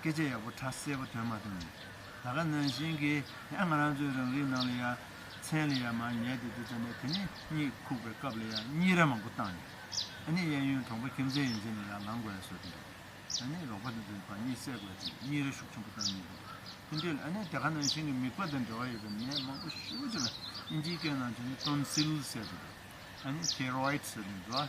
སྐད་ཆ་ཡག་པོ་ཁྲ་གསལ་པོ་དོན་མ་དོན་མེད་ད་ག་ནང་བཞིན་གི་ཡ་ང་རང་ཚོའི་རང་རིགས་ནང་ལ་ཡ་མཚན་ལ་ཡ་མ་ཉལ་ཏེ་འདི་ཙམ་ནས་དེ་ནས་གཉིད་ཁུག་པའི་སྐབས་ལ་ཡ་གཉིད་ར་མང་པོ་བཏང་ནས་ད་ནི་གཡས་གཡོན་གྲོང་པ་ཁྱིམ་མཚེས་ཡིན་ཚེ་ནས་ཡ་ལང་དགོས་ཡ་བཟོ་གི་འདུག་ད་ནི་རོགས་པ་འདི་ཚོའི་བར་གཉིད་སད་དགོས་ཏེ་གཉིད་ར་ཤུགས་ཆེན་པོ་བཏང་གི་འདུག་དེ་འདྲའི་ལ་ནས་ད་ག་ནང་བཞིན་གྱི་མིག་པ་དང་འབྲེལ་བ་ཡོད་པའི་ནད་མང་པོ་ཤུགས་ཆེ་ལ་ཨིན་ཇིའི་སྐད་ནང་བྱས་ནས Tonsil ཟེར་གི་འདུག་ད་ནི Thyroid ཟེར་གི་འདུག་ཨ།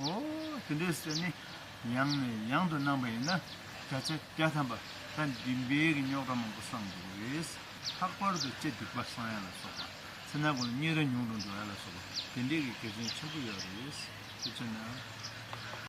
ཨོ། དེ་འདྲའི་སེམས་ནི་ཡང་ནས་ཡང་དུ་སྣང་བ་ཡིན་ན་བརྒྱ་ཆ་བརྒྱ་ཐམ་པ་ད་འདི་འདྲའི་གི་རྙོག་དྲ་མང་པོ་སངས་འདུག་རེད། ལྷག་པར་དུ་སྤྱི་སྡིག་པ་སངས་ཡ་ལ་སོགས་པ། ཚེ་ན་གོ་ལ་སྙིང་ར་ཉུང་དུ་འགྲོ་ཡ་ལ་སོགས་པ་དེ་འདྲའི་གི་དགེ་མཚན་ཆེན་པོ་ཡོད་རེད། དེ་ཚོ་ན།